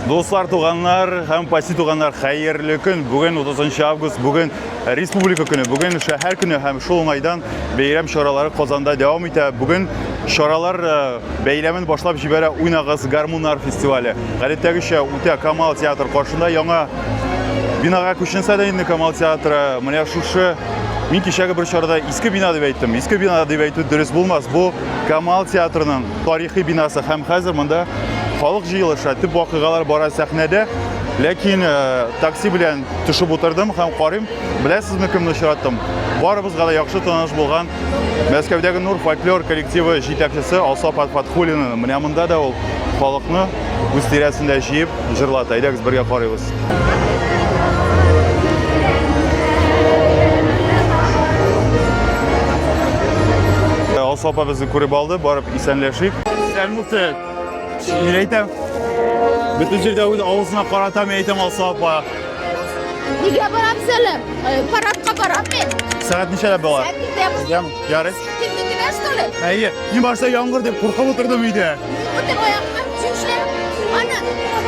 Дуслар, туганнар һәм паси туганнар, хәерле көн. Бүген 30 август, бүген республика көне, бүген шәһәр көне һәм шул уңайдан бәйрәм чаралары Казанда дәвам итә. Бүген чаралар э, бәйләмен башлап җибәрә Уйнагыз гармуннар фестивале. Гадәттәгечә үтә Камал театр каршында яңа бинага күченсә дә инде Камал театры менә шушы Мин кичәге бер чарада иске бина дип әйттем. Иске бина дип әйтү дөрес булмас. Бу Камал театрының тарихи бинасы һәм хәзер монда халык җыелыша, төп вакыйгалар бара сәхнәдә. Ләкин э, такси белән төшеп утырдым һәм карыйм, беләсезме кемне очраттым? Барыбызга да яхшы таныш булган Мәскәүдәге Нур фольклор коллективы җитәкчесе Алсаф Фатхуллинны. Менә монда да ул халыкны үз тирәсендә җыеп җырлата. Әйдәгез бергә карыйбыз. Алсу апа безне күреп алды, барып исәнләшик. Исән булсын. Мин әйтәм, бөтен җирдә үз авызына карата мин әйтәм Алсу апа. Нигә барам сәлем? Парадка барам мин. Сәгать ничәдә була? Сәгать Ярый. Тиздин килә, что ли? Әйе, мин башта яңгыр дип куркып утырдым өйдә. Бөтен аяклар чүшле. Ана,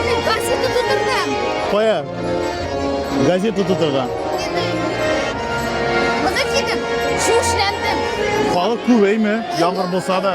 мин газета тутырдым. Кая? Газета тутырган. Кызы кидем, чүшләндем. Халык күбәйме? Яңгыр булса да.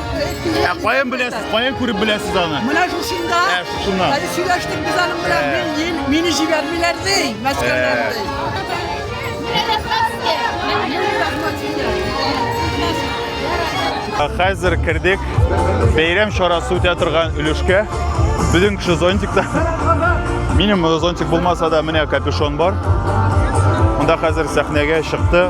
Ә каян беләсез, каян күреп беләсез аны? Менә шушында. Ә, шушында. Әле сөйләштек без аның белән. Мин, мин, мине җибәрмиләр ди, мәскәүдән ди. Хәзер кердек бәйрәм чарасы үтә торган өлешкә. Безнең кеше зонтикта. Минем зонтик булмаса да, менә капюшон бар. Монда хәзер сәхнәгә чыкты.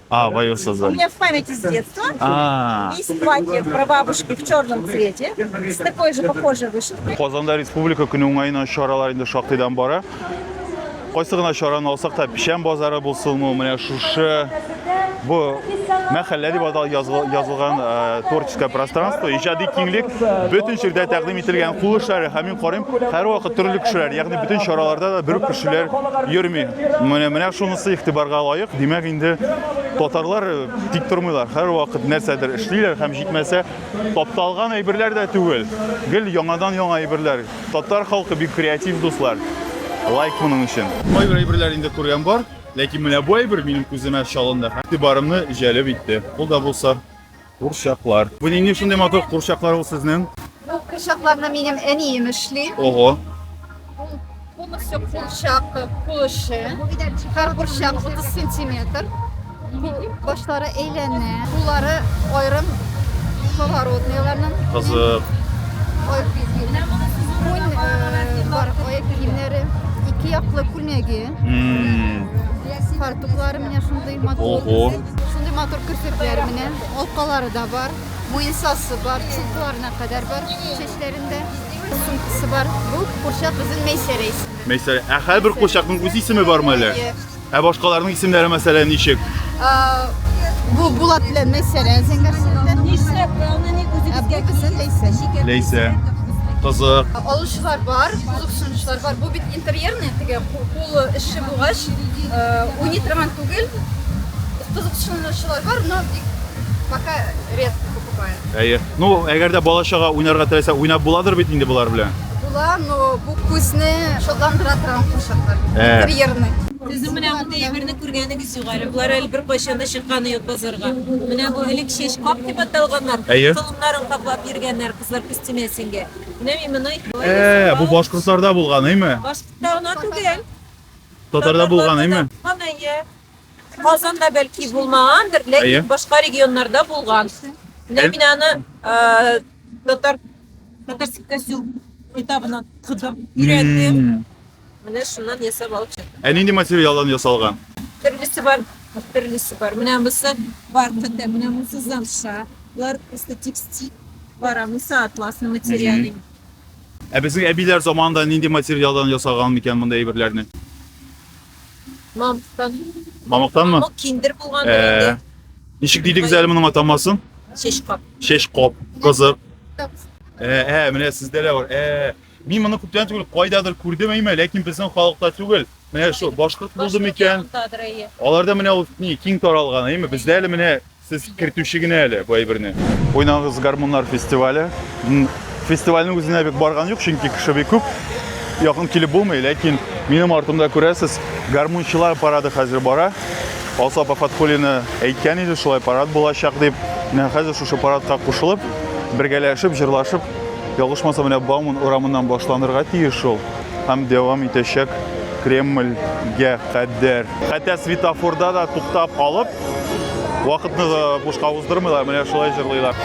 А, в ее У создание. меня в памяти с детства А, есть платье прабабушки в черном цвете с такой же похожей вышивкой. Казанда республика көне уңаена чаралар инде шактыйдан бара. Кайсы гына чараны алсак та, печән базары булсынмы, менә шушы бу мәхәллә дип атал языл- язылган э, творческое пространство, иҗади киңлек бөтен җирдә тәкъдим ителгән кул эшләре һәм Карыйм, һәрвакыт төрле кешеләр, ягъни бөтен чараларда да бер үк кешеләр йөрми. Менә менә шунысы игътибарга лаек. Димәк, инде татарлар э, тик тормыйлар, һәрвакыт нәрсәдер эшлиләр һәм җитмәсә, тапталган әйберләр дә түгел. Гел яңадан яңа әйберләр. Татар халкы бик креатив дуслар. Лайк моның өчен. Кайбер әйберләр инде күргән бар, ләкин менә бу әйбер минем күземә чалынды, игътибарымны җәлеп итте. Ул да булса Курчаклар. Бу нинди шундый матур курчаклар ул сезнең? Бу курчакларны минем әнием эшли. Ого. Ул полностью курчак кулышы. Һәр курчак 30 сантиметр. Башлары әйләнә. Куллары аерым поворотныйларның. Кызык. Ой, күн э, бар аяк киемнәре, ике яклы күлмәге. Фартуклары менә шундый матур. Ого. Шундый матур керфекләр менә, алкалары да бар, муенсасы бар, чулкларына кадәр бар чәчләрендә. Сумкасы бар. Бу курчак безнең Мәйсәрә исеме. Мәйсәрә. Ә һәрбер курчакның үз исеме бармы әле? Ә башкаларның исемнәре мәсәлән ничек? А, Бу Булат белән Мәйсәрә зәңгәр сеңлеләр. Нишләп аны ник Ә бу үзебезгә кызы Ләйсә. Ләйсә. Кызык. Алучылар бар, кызыксынучылар бар. Бу бит интерьерный, теге Ул эшче булгач, уйный торган түгел. Кызыксынучылар бар, но бик пока редко покупает. Әйе. Ну, әгәр дә бала чага уйнарга теләсә, уйнап буладыр бит инде болар белән. Була, но бу күзне шатландыра торган курчаклар. Ә. Интерьерный. Сезнең менә мондый әйберне күргәнегез юк әле. Болар әле беркайчан да чыкканы юк базарга. Менә бу элек чәч кап дип аталганнар. Әйе. Толымнарын каплап йөргәннәр кызлар күстимәсенге. Менә мин моны Ә, бу башкортларда булган, әйме? Баш... Дана түгел. Татарда булган, әйме? Булган, әйе. Казанда бәлки булмагандыр, Әйе. ләкин башка регионнарда булган. Менә Әл- мин аны э, татар татарский костюм китабына тыкып өйрәндем. М. Менә шуннан ясап алып чыктым. Ә нинди материалдан ясалган? Төрлесе бар, төрлесе бар. Менә монысы бархата, менә монысы замша. Болар просто текстиль. Бар, а монысы атласный материал. Мгм. Ә безнең әбиләр заманында нинди материалдан ясаган микән мондый әйберләрне? Мамыктан. Мамыктанмы? Мамык киндер булган Ә, инде. Ничек дидегез әле моның атамасын? Чәч кап. Чәч кап. Кызык. Ә, ә, менә сездә дә бар. Ә, мин моны күптән түгел кайдадыр күрдем әйме, ләкин безнең халыкта түгел. Менә шул башкорт булды микән? Аларда менә ул ни киң таралган әйме? Бездә әле менә Сез кертүче генә әле бу әйберне. Уйнагыз гармуннар фестивале. Фестивальнең үзенә бик барган юк, чөнки кеше бик күп. Якын килеп булмый, ләкин минем артымда күрәсез, гармунчылар парады хәзер бара. Алсу апа Фатхулина әйткән иде, шулай парад булачак дип. Менә хәзер шушы парадка кушылып, бергәләшеп, җырлашып, ялгышмасам, менә Бауман урамыннан башланырга тиеш шул һәм дәвам итәчәк Кремльгә кадәр. Хәтта светофорда да туктап алып, Вакытны да бушка уздырмыйлар, менә шулай җырлыйлар.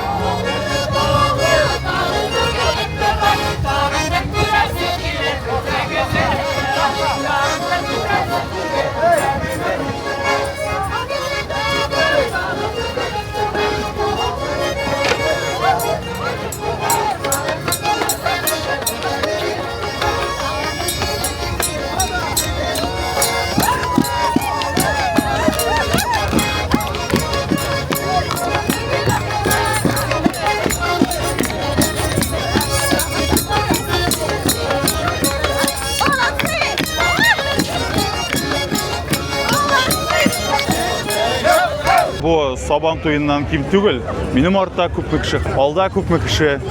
Бу сабан туеннан ким түгел. Минем артта күпме кеше, алда күпме кеше.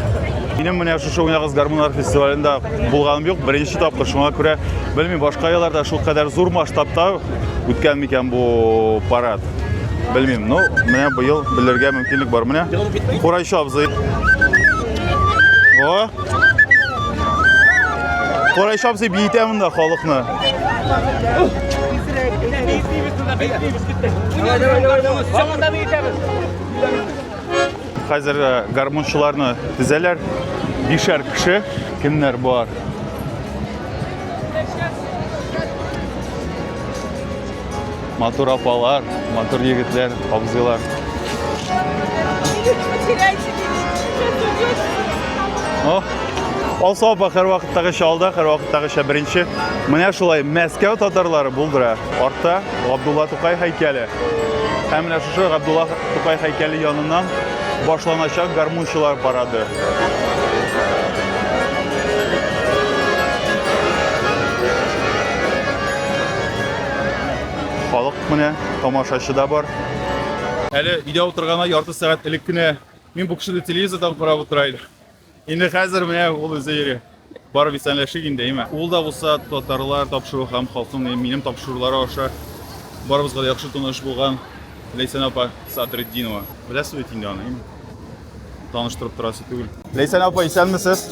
Минем менә шушы уйнагыз гармуннар фестивалендә булганым юк, беренче тапкыр. Шуңа күрә белмим, башка елларда шул кадәр зур масштабта үткән микән бу парад. Белмим, но ну, менә быел белергә мөмкинлек бар. Менә Курайчы абзый. О! Курайчы абзый биетә монда халыкны. Давай, давай, давай, давай. Хәзер э, гармунчыларны тезәләр. Бишәр кеше. Кемнәр бар? Матур апалар, матур егетләр, абзыйлар. О, Алса апа һәр вакыттагыча алда, һәр вакыттагыча беренче. Менә шулай Мәскәү татарлары булдыра. Артта Габдулла Тукай һәйкәле. Һәм менә шушы Габдулла Тукай һәйкәле яныннан башланачак гармунчылар парады. Халык менә тамашачы да бар. Әле өйдә утыргана ярты сәгать элек кенә мин бу кешене телевизордан карап утыра идем. Инде хәзер менә ул үзе йөри. Барып исәнләшик инде, әйме? Ул да булса татарлар тапшыруы һәм халкым минем тапшырулары аша барыбызга да яхшы таныш булган Ләйсән апа Садретдинова. Беләсез бит инде аны, әйме? Таныштырып торасы түгел. Ләйсән апа, исәнмесез?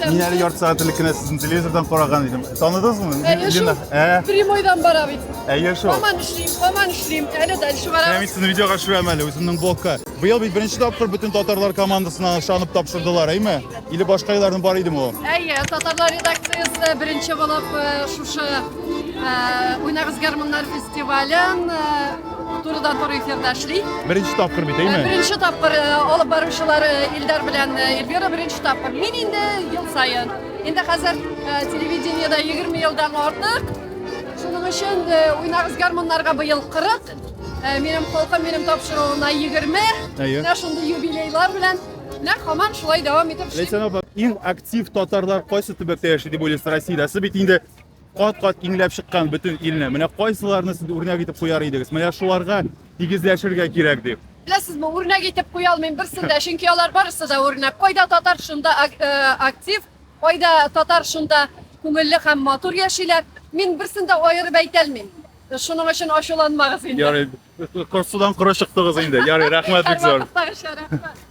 Мин әле ярты сәгать элек кенә сезне телевизордан караган идем. Таныдыңызмы? Әйе, шул. Ә? Прямойдан бара бит. Әйе шул. Һаман эшлим, һаман эшлим. Әле дальше барам. Мин сезне видеога төшерәм әле, үземнең блогка. Быел бит беренче тапкыр бөтен татарлар командасына ышанып тапшырдылар, әйме? Или башка елларның бар идеме ул? Әйе, татарлар редакциясе беренче булып э, шушы э, Уйнагыз гармуннар фестивален э, турыдан туры эфирда эшли. Беренче тапкыр бит, әйме? Беренче тапкыр алып баручылар Илдар белән Эльвира беренче тапкыр. Мин инде ел саен. Инде хәзер телевидениедә 20 елдан артык. Шуның өчен Уйнагыз гармуннарга быел 40 Э, минем халкым минем тапшыруына 20. Әйе. Менә шундый юбилейлар белән менә һаман шулай дәвам итеп эшли. Ләйсән апа, иң актив татарлар кайсы төбәктә яши дип уйлыйсыз Россиядә? Сез бит инде кат-кат иңләп чыккан бөтен илне. Менә кайсыларны сез үрнәк итеп куяр идегез? Менә шуларга тигезләшергә кирәк дип. Беләсезме, үрнәк итеп куя алмыйм берсен дә, чөнки алар барысы да үрнәк. Кайда татар шунда э, актив, кайда татар шунда күңелле һәм матур яшиләр. Мин берсен дә аерып әйтә алмыйм. Шуның өчен ачуланмагыз инде. Ярый, кор- судан коры чыктыгыз инде. Ярый, рәхмәт бик зур. Һәрвакыттагыча рәхмәт.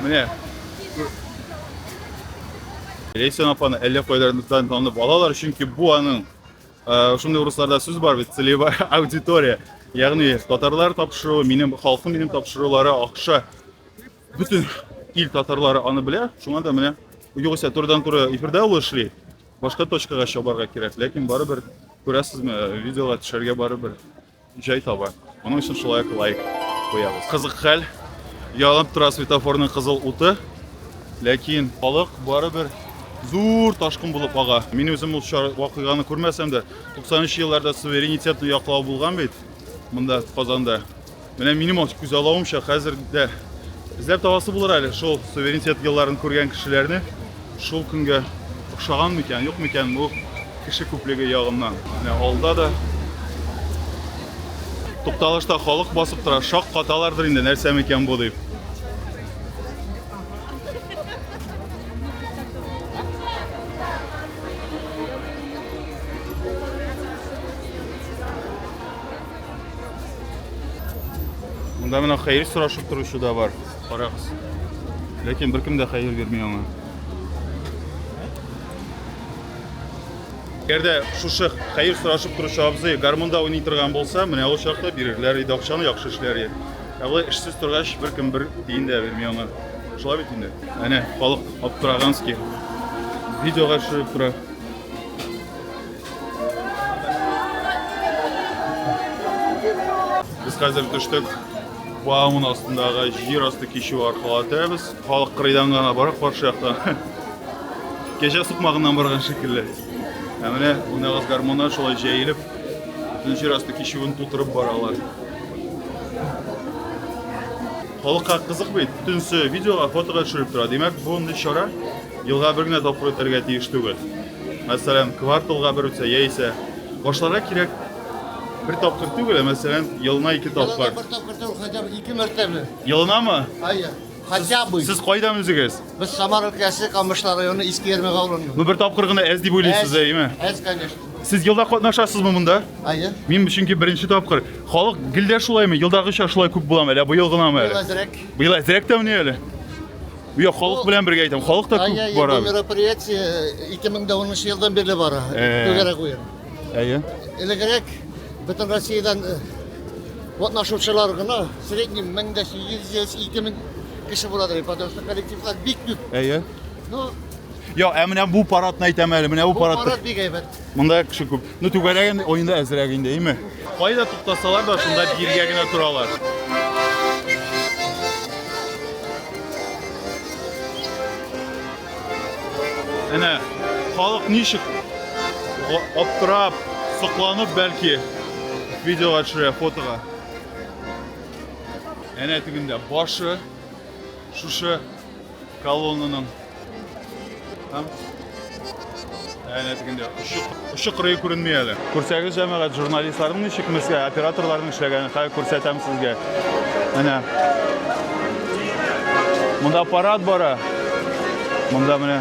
Менә. Ләйсән апаны әллә кайларымыздан танып алалар, чөнки бу аның э, шундый урысларда сүз бар бит, целевая аудитория. Ягъни татарлар тапшыруы, минем халкым минем тапшырулары акша. Бөтен ил татарлары аны белә, шуңа да менә югыйсә турыдан-туры эфирда ул эшли. Башка точкага чабарга кирәк, ләкин барыбер күрәсезме, видеога төшәргә барыбер җай таба. Моның өчен шулай ук лайк куябыз. Кызык хәл, янып тора светофорның кызыл уты, ләкин халык барыбер зур ташкын булып ага. Мин үзем ул вакыйганы күрмәсәм дә, 90 елларда суверенитетны яклау булган бит монда Казанда. Менә минем ат күз алавымча хәзер дә эзләп табасы булыр әле шул суверенитет елларын күргән кешеләрне шул көнгә охшаган микән, юк микән бу кеше күплеге ягыннан. Менә алда да тукталышта халык басып тора, шак каталардыр инде, нәрсә микән бу дип. Монда менә хәер сорашып торучы да бар. Карагыз. Ләкин беркем дә хәер бирми аңа. Әгәр дә шушы хәер сорашып торучы абзый гармунда уйный торган булса, менә ул чакта бирерләр иде акчаны яхшы эшләр иде. Ә болай эшсез торгач, беркем бер тиен дә бирми аңа. Шулай бит инде. Әнә халык аптыраганский. Видеога төшереп тора. Без хәзер төштек Баумын астындагы җир асты кичү аркылы үтәбез. Халык кырыйдан гына бара каршы яктан. Кәҗә сукмагыннан барган шикелле. Ә менә унагыз гармоннар шулай җәелеп, бөтен җир асты кичүен тутырып баралар. Халыкка кызык бит, төнсе видеога, фотога төшереп тора. Димәк, бу чара Елга бер генә тапкыр үтәргә тиеш түгел. Мәсәлән, кварталга бер үтсә яисә башларга кирәк бер тапкыр түгел, ә мәсәлән, елына ике тапкыр. Бер тапкыр түгел, хотя бы ике мәртәбә. Елынамы? Әйе. Хотя бы. Сез кайдан үзегез? Без Самара өлкәсе, Камышлар районы, Иске Ярмәк авылыннан. Ну бер тапкыр гына әз дип уйлыйсыз, әйеме? Әз, конечно. Сез елда катнашасызмы монда? Әйе. Мин чөнки беренче тапкыр. Халык гел дә шулаймы? Елдагыча шулай күп буламы? Әллә быел гынамы әле? Быел әзрәк. Быел әзрәк тә менә әле. Бу халык белән бергә әйтәм, халык та күп бара. Бу мероприятие 2010 э, елдан бирле бара. Түгәрәк уен. Әйе. Элегрәк бөтен Россиядән катнашучылар гына средний 1800-2000 кеше булады, потому что коллективлар бик күп. Әйе. Ну, Йо, ә менә бу парадны әйтәм әле, менә бу парад. Бу парад бик әйбәт. Монда кеше күп. Ну, түгәрәк инде, ой инде әзрәк инде, әйме? Кайда туктасалар да, шунда биргә генә торалар. Әнә, халык ничек аптырап, сокланып бәлки видеога төшерә, фотога. Әнә тегендә башы, шушы Колоннаның һәм әнә тегендә очы, очы кырые күренми әле. Күрсәгез җәмәгать журналистларның ничек мескә операторларның эшләгәнен хәзер күрсәтәм сезгә. Әнә. Монда парад бара. Монда менә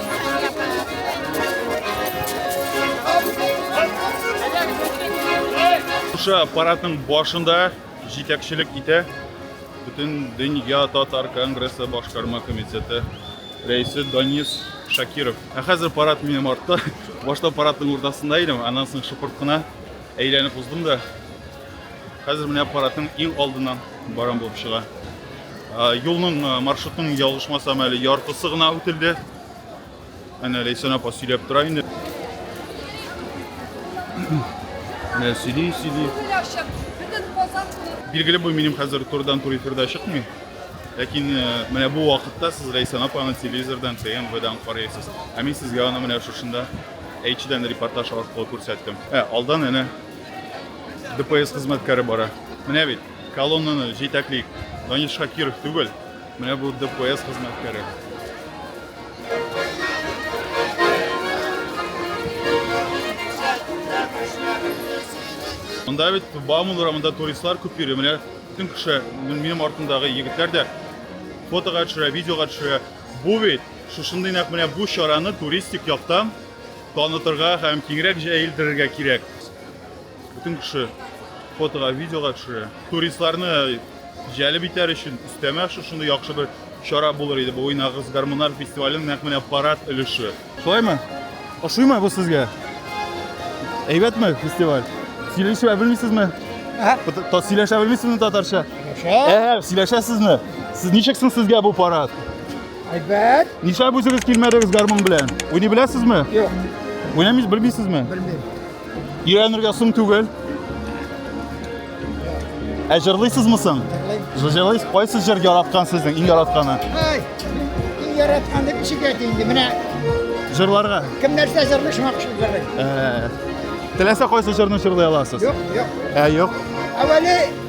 Шушы аппаратның башында җитәкчелек итә бөтен дөнья татар конгрессы башкарма комитеты рәисе Данис Шакиров. Ә хәзер парад минем артта. Башта парадның уртасында идем, аннан соң шыпырт кына әйләнеп уздым да Хәзер менә аппаратның иң алдыннан барам булып чыга. Юлның маршрутның ялгышмасам әле яртысы гына үтелде. Әнә Ләйсән апа сөйләп тора инде. Менә сөйли, сөйли. Билгеле бу минем хәзер турдан тур эфирда чыкмый. Ләкин менә бу вакытта сез Ләйсән апаны телевизордан, ТМВдан карыйсыз. Ә мин сезгә аны менә шушында H-дән репортаж аркылы күрсәттем. Ә, алдан әнә ДПС хезмәткәре бара. Менә бит, колоннаны җитәкли Данил Шакиров түгел, менә бу ДПС хезмәткәре. Монда бит Бауман урамында туристлар күп йөри. Менә бөтен кеше, минем артымдагы егетләр дә фотога төшерә, видеога төшерә. Бу бит шушындый нәкъ менә бу чараны туристик яктан Танытырга һәм киңрәк җәелдерергә кирәк. Бөтен кеше фотога, видеога төшерә. Туристларны җәлеп итәр өчен өстәмә шушындый яхшы бер чара булыр иде. Бу уйнагыз гармунар фестивален нәкъ менә парад өлеше. Шулаймы? Ошыймы бу сезгә? Әйбәтме фестиваль? Сөйләшә белмисезме? Ә? Сөйләшә белмисезме татарча? Ә, сөйләшәсезме? Сез ничек соң сезгә бу парад? Әйбәт. Нишләп үзегез килмәдегез гармун белән? Уйный беләсезме? Юк. Уйнамыйсыз, белмисезме? Белмим. Өйрәнергә соң түгел. Ә җырлыйсызмы соң? Җырлыйсыз. Кайсы җыр яраткан сезнең иң яратканы? Ай, иң яраткан дип ничек әйтә инде менә Җырларга. кем нәрсә җырлый шуңа кушып җырлый. Ә, Теләсә кайсы җырны җырлый аласыз? Юк, юк. Ә, юк. Әвәле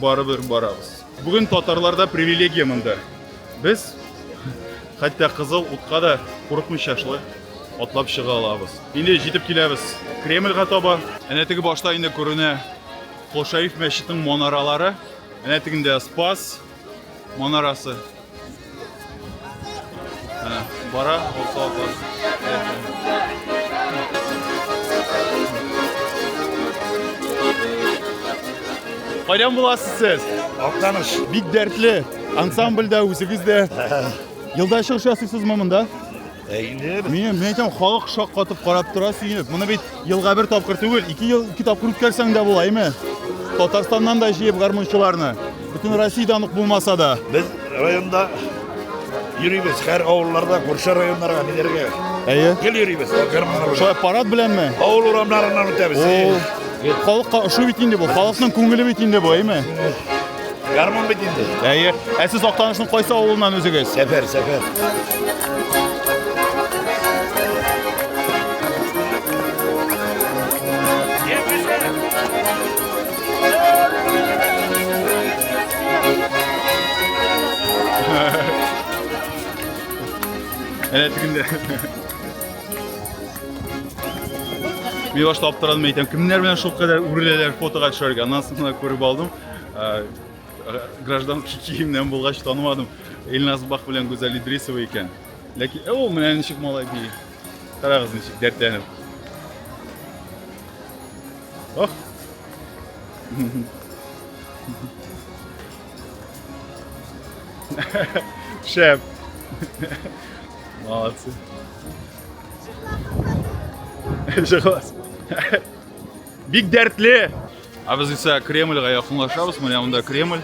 Барыбер барабыз. Бүген татарларда привилегия монда. Без хәтта кызыл утка да курыкмыйча шулай атлап чыга алабыз. Инде җитеп киләбез Кремльга таба. Әнә теге башта инде күренә Хошаиф мәчетенең манаралары. Әнә тегендә Спас. манарасы. Менә бара, булса Кайдан буласыз сез? Актаныш. Бик дәртле. Ансамбльдә үзегез дә. Елда чыгыш ясыйсызмы монда? Мин мин әйтәм, халык шаккатып карап тора сөенеп. Моны бит елга бер тапкыр түгел, ике ел ике тапкыр үткәрсәң дә була, әйме? Татарстаннан да җыеп гармунчыларны. Бөтен Россиядән ук булмаса да. Без районда йөрибез, һәр авылларда, күрше районнарга биләргә. Әйе. Гел йөрибез, гармуннар. Шулай парад беләнме? Авыл урамнарыннан үтәбез. Халыкка ошый бит инде бу, халыкның күңеле бит инде бу, әйме? Гармун бит инде. Әйе. Ә сез Актанышның кайсы авылыннан үзегез? Сәфәр, сәфәр. Әнә тегендә. Милаш таптырдым әйтәм. Кемнәр белән шул кадәр үреләләр фотога төшәргә. Аннан соң күреп алдым. Э, граждан киемнән булгач танымадым. Эльназ Бах белән Гүзәл Идрисова икән. Ләкин ул менә ничек малай бии. Карагыз ничек дәртләнеп. Ох. Шеф. Молодцы. Согласен. Бик дәртле. Ә без исә Кремльгә якынлашабыз. Менә монда Кремль.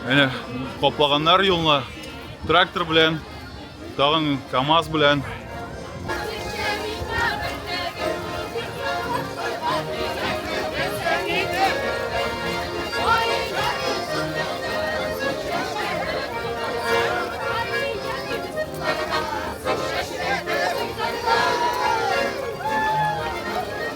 Әнә каплаганнар юлны трактор белән, тагын КАМАЗ белән.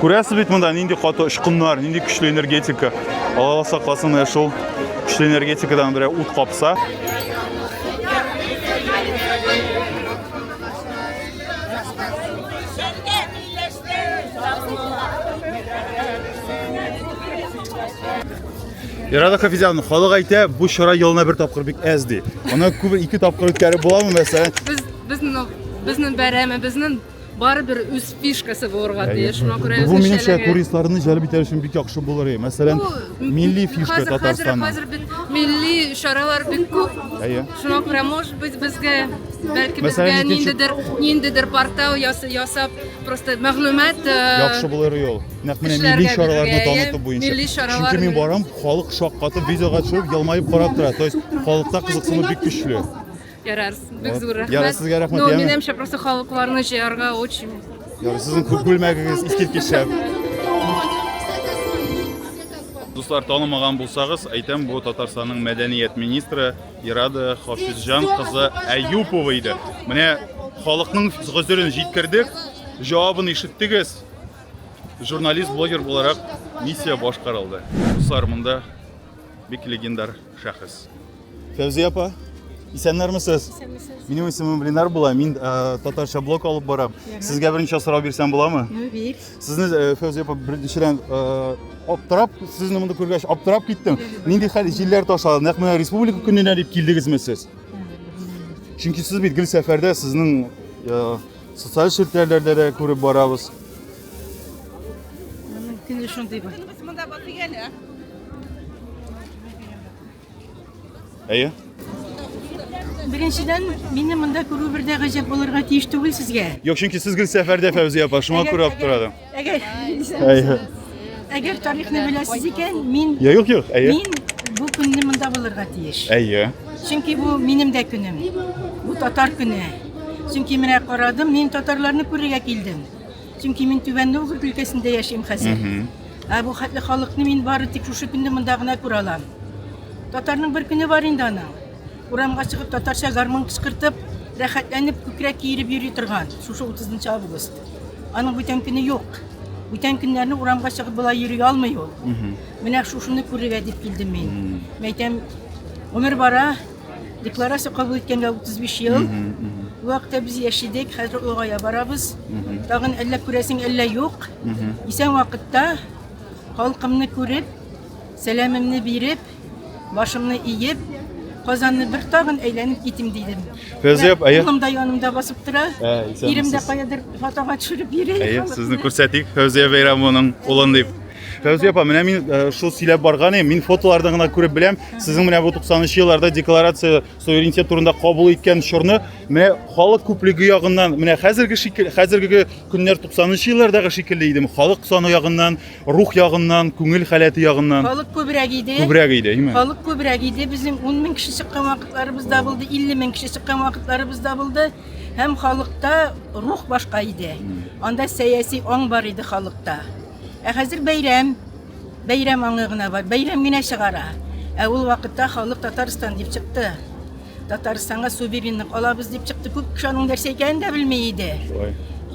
Күрәсез бит монда нинди каты очкыннар, нинди көчле энергетика. Алла сакласын, ә шул көчле энергетикадан берәү ут капса. Ирада Хафизовна, халык әйтә, бу чара елына бер тапкыр бик әз ди. Аны күп ике тапкыр үткәреп буламы, мәсәлән? Без безнең безнең бәйрәме, безнең барыбер үз фишкасы булырга тиеш. Шуңа күрә Бу үзенчәлеге. минемчә туристларны җәлеп итәр өчен бик яхшы булыр. Әйе. Мәсәлән, милли фишка хәзер, Татарстанның. Хәзер, хәзер бит милли чаралар бик күп. Әйе. Шуңа күрә, может быть, безгә бәлки безгә икенче... ниндидер, ниндидер портал ясап, просто мәгълүмат яхшы булыр ул. Нәкъ менә милли чараларны таныту буенча. Милли чаралар. Чөнки мин барам, халык шаккатып, видеога төшереп, елмаеп карап тора. То есть халыкта кызыксыну бик көчле. Ярар, бик зур рәхмәт. Ярар, сезгә рәхмәт, Ну, яме. минемчә, просто халыкларны җыярга очень. Ярар, сезнең күп күлмәгегез искиткеч шәп. Дуслар, танымаган булсагыз, әйтәм, бу Татарстанның мәдәният министры Ирада Хафизҗан кызы Әюпова иде. Менә халыкның гозерен җиткердек, җавабын ишеттегез. Журналист-блогер буларак миссия башкарылды. Дуслар, монда бик легендар шәхес. Фәүзия апа, исәннәрмесез? Исәнмесез. Минем исемем Ленар була, мин э, татарча блог алып барам. Сезгә берничә сорау бирсәм буламы? Ну, бир. Сезне э, Фәүзия апа беренчедән э, аптырап, сезне монда күргәч аптырап киттем. Нинди хәл җилләр ташлады? Нәкъ менә республика көненә дип килдегезме сез? Чөнки сез бит гел сәфәрдә, сезнең э, социаль челтәрләрдә дә күреп барабыз. Мөмкин шундый бар. Без монда бакый әле. Әйе? Беренчедән, мине монда күрү бер дә гаҗәп булырга тиеш түгел сезгә. Юк, чөнки сез гел сәфәрдә Фәүзия апа, шуңа күрә алып торады. Әгәр Әйе. әгәр тарихны беләсез икән, мин Я юк, юк, әйе. мин бу көнне монда булырга тиеш. Әйе. Чөнки бу минем дә көнем. Бу татар көне. Чөнки менә карадым, мин татарларны күрергә килдем. Чөнки мин Түбән Новгород өлкәсендә яшим хәзер. Ә бу хәтле халыкны мин бары тик шушы көнне монда гына күрә алам. Татарның бер көне бар инде аның. Урамга чыгып татарча гармун кычкыртып, рәхәтләнеп күкрәк киереп йөри торган шушы 30 август. Аның бүтән көне юк. Бүтән көннәрне урамга чыгып болай йөри алмый ул. Менә шушыны күрергә дип килдем мин. Мәйтәм, гомер бара, Декларация кабул иткәнгә 35 ел. Бу вакытта без яшь идек, хәзер олыгая барабыз. Тагын әллә күрәсең, әллә юк. Исән вакытта халкымны күреп, сәламемне биреп, башымны иеп, Казанны бер тагын әйләнеп китим дидем. Кызып, әйе. Улым да янымда басып тора. Ә, исәнмесез. Ирем дә каядыр фотога төшереп йөри. Әйе, сезне күрсәтик Фәүзия Бәйрәмованың улын дип. Фәүзия апа, менә мин э, шул сөйләп барган идем, мин фотолардан гына күреп беләм, сезнең менә бу 90 елларда декларация суверенитет турында кабул иткән чорны, менә халык күплеге ягыннан, менә хәзерге шикелле, хәзерге көннәр 90 еллардагы шикелле идеме? Халык саны ягыннан, рух ягыннан, күңел халәте ягыннан. Халык күбрәк иде. Күбрәк иде, әйме? Халык күбрәк иде. Безнең 10 мең кеше чыккан вакытларыбыз да булды, 50 мең кеше чыккан вакытларыбыз да булды. Һәм халыкта рух башка иде. Анда сәяси аң бар иде халыкта. Ә хәзер бәйрәм. Бәйрәм аңы гына бар. Бәйрәм генә чыгара. Ә ул вакытта халык Татарстан дип чыкты. Татарстанга суверенлык алабыз дип чыкты. Күп кеше аның нәрсә икәнен дә белми иде.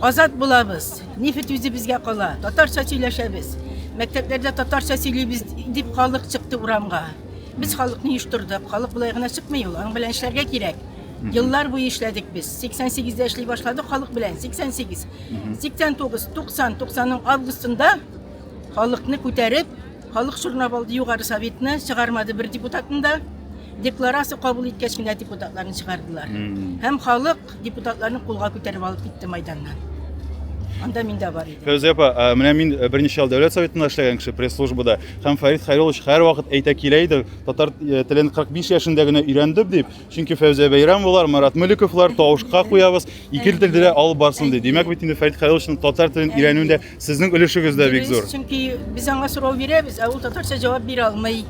Азат булабыз. Нефть үзе безгә кала. Татарча сөйләшәбез. Мәктәпләрдә татарча сөйлибез дип халык чыкты урамга. Без халыкны оештырдык. Халык болай гына чыкмый ул. Аның белән эшләргә кирәк. Еллар буе эшләдек без. 88 дә эшли башладык халык белән. 88, 89, 90, 90-ның августында халыкны күтәреп, халык шурнап алды югары советны, чыгармады бер депутатын да. Декларация кабул иткәч кенә депутатларны чыгардылар. Һәм халык депутатларны кулга күтәреп алып китте майданнан. Анда мин дә бар идем. Фәүзия апа, ә, менә мин э, берничә ел дәүләт советында эшләгән кеше пресс-службада һәм Фәрит Хәйруллович һәрвакыт әйтә килә иде, татар э, телен 45 яшендә генә өйрәндем дип, Чөнки Фәүзия Бәйрәмовалар, Марат Мөлековлар тавышка куябыз, ике телдә дә алып барсын ди. Димәк бит инде Фәрит Хәлиловичның татар телен өйрәнүендә сезнең өлешегез дә бик зур. Чөнки без аңа сорау бирәбез, ә ул татарча җавап бирә алмый.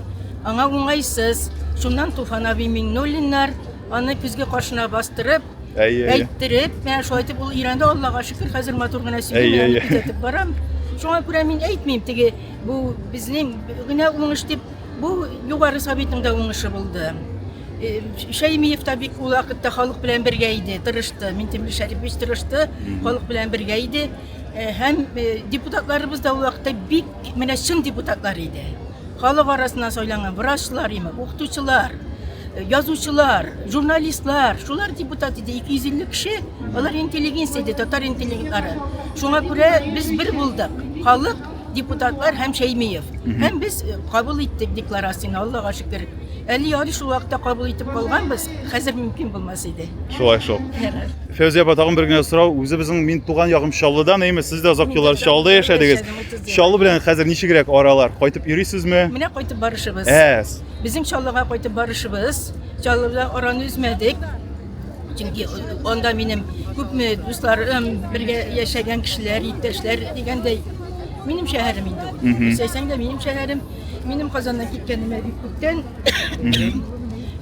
Аңа уңайсыз. Шуннан Туфан абый Миңнуллиннар аны күзгә каршына бастырып, әйе, әйттереп, менә шулай итеп ул өйрәнде, Аллага шөкер, хәзер матур гына сөйли, күзәтеп барам. Шуңа күрә мин әйтмим, теге бу безнең генә уңыш дип Бу Югары Советның да уңышы булды. Э, Шәймиев та бик ул вакытта халык белән бергә иде, тырышты. Минтимер Шәрипович тырышты, халык белән бергә иде. Э, Һәм э, депутатларыбыз да ул вакытта бик менә чын депутатлар иде. Халык арасына сайланган врачлар, име, укытучылар, э, язучылар, журналистлар, шулар депутат иде 250 кеше. Алар интеллигенция иде, татар интеллигентлары. Шуңа күрә без бер булдык. Халык депутатлар һәм Шәймиев. Һәм без э, кабул иттек декларацияне, Аллага шөкер. Әле ярый шул вакытта кабул итеп калганбыз, хәзер мөмкин булмас иде. Шулай шул. Фәүзия апа, тагын бер генә сорау. Үзебезнең мин туган ягым Чаллыдан, әйме, сез дә озак еллар Чаллыда яшәдегез. Чаллы белән хәзер ничегрәк аралар? Кайтып йөрисезме? Менә кайтып барышыбыз. Әс. Безнең Чаллыга кайтып барышыбыз. Чаллыда араны үзмәдек. Чөнки анда минем күпме дусларым, бергә яшәгән кешеләр, иптәшләр дигәндәй, минем шәһәрем инде ул. Мгм. Исәйсәң дә минем шәһәрем, минем Казаннан киткәнемә бик күптән.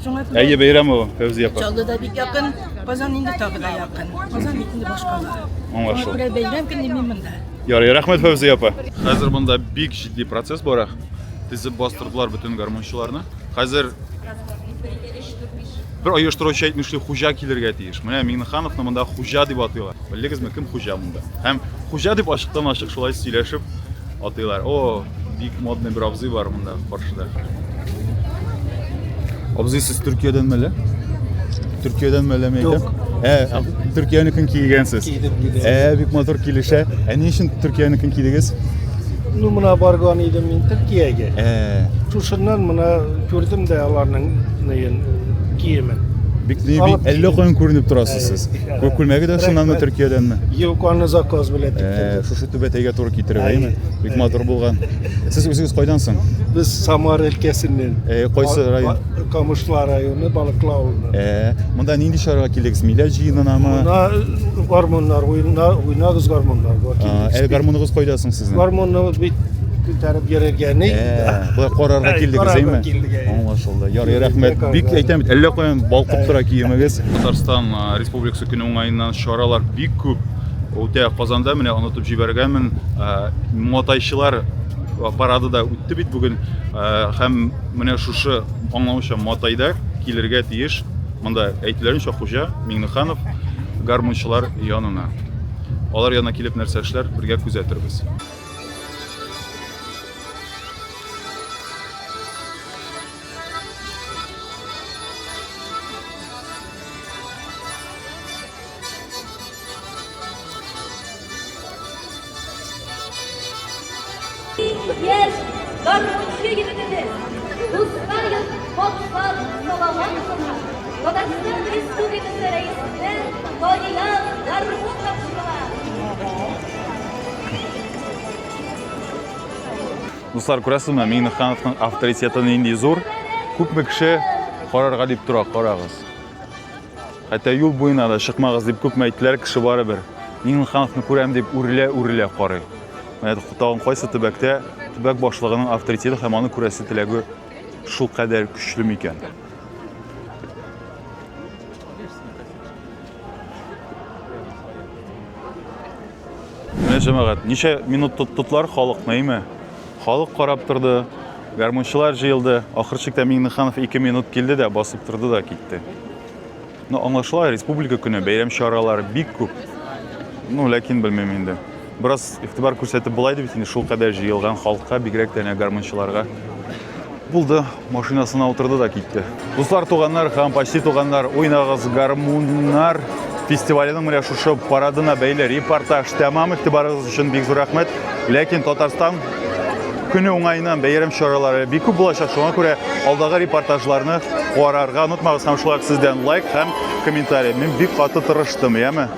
Шуңа күрә Әйе, бәйрәм ул, Фәүзия апа. Чаллы да бик якын, Казан инде тагы да якын. Казан бит инде башкала. Шуңа Аңлашылды. күрә бәйрәм көне мин монда. Ярый, рәхмәт, Фәүзия апа. Хәзер монда бик җитди процесс бара. Тезеп бастырдылар бөтен гармунчыларны. Хәзер Бер оештыручы әйтмешли, хуҗа килергә тиеш. Менә Миңнехановны монда хуҗа дип атыйлар. Белдегезме, кем хуҗа монда? Һәм хуҗа дип ачыктан ачык шулай сөйләшеп атыйлар. О, бик модный бер абзый бар монда каршыда. Абзый, сез Төркиядән мәле? Төркиядән мәле ме икән? Ә, Төркиянекен кигәнсез. Кидем, кидем. Ә, бик матур килешә. Ә ни өчен Төркиянекен кидегез? Ну, мына барган идем мин Төркиягә. Ә. Шушыннан мына күрдем дә аларның нәен киемен. Бик ни бик әллә каян күренеп торасыз сез. Күк күлмәге дә шуннанмы Төркиядәнме? Юк, аны заказ белән тиктердек. Шушы түбәтәйгә туры китереп, әйме? Бик матур булган. Сез үзегез кайдан соң? Без Самар өлкәсеннән. Кайсы район? Камышлар районы, Балыклы авылыннан. Э, монда нинди чарага килдегез? Миләш җыенынамы? Мына э, гармуннар, уйна, уйнагыз гармуннар. бар, А, килдек. Әле гармуныгыз кайда соң сезнең? Гармунны бит күтәреп йөргәне. Ә, Болай карарга Әй, килдегез, карарга әйме? килдек, әй. Аңлашылды. Ярый, Килдек, рәхмәт. карарга. Бик әйтәм бит, әллә каян балкып тора киемегез. Татарстан а, Республикасы көне уңаеннан чаралар бик күп. Үтә Казанда менә онытып җибәргәнмен. А, Матайчылар парады да үтте бит бүген. А, Һәм Менә шушы аңлаучан матайда килергә тиеш, монда әйтүләренчә хуҗа Миңнеханов гармунчылар янына. Алар янына килеп нәрсә эшләр, бергә күзәтербез. Дуслар, күрәсезме, Миңнехановның авторитеты нинди зур. Күпме кеше карарга дип тора, карагыз. Хәтта юл буена да чыкмагыз дип күпме әйттеләр, кеше барыбер. Миңнехановны күрәм дип үрелә-үрелә карый. Менә тагын кайсы төбәктә төбәк башлыгының авторитеты һәм аны күрәсе теләге шул кадәр көчле микән? Менә җәмәгать, ничә минут тоттылар халыкны, әйме? Халык карап торды, гармунчылар җыелды. Ахыр чиктә Миңнеханов ике минут килде дә, басып торды да китте. Ну, аңлашыла, республика көне, бәйрәм чаралары бик күп. Ну, ләкин белмим инде. Бераз игътибар күрсәтеп булайды бит инде шул кадәр җыелган халыкка, бигрәк тә әнә гармунчыларга. Булды. Машинасына утырды да китте. Дуслар, туганнар һәм почти туганнар, уйнагыз гармуннар фестиваленең менә шушы парадына бәйле репортаж тәмам игътибарыгыз өчен бик зур рәхмәт. Ләкин Татарстан көне уңаеннан бәйрәм чаралары бик күп булачак. Шуңа күрә алдагы репортажларны карарга онытмагыз һәм шулай ук сездән лайк һәм комментарий. Мин бик каты тырыштым, яме?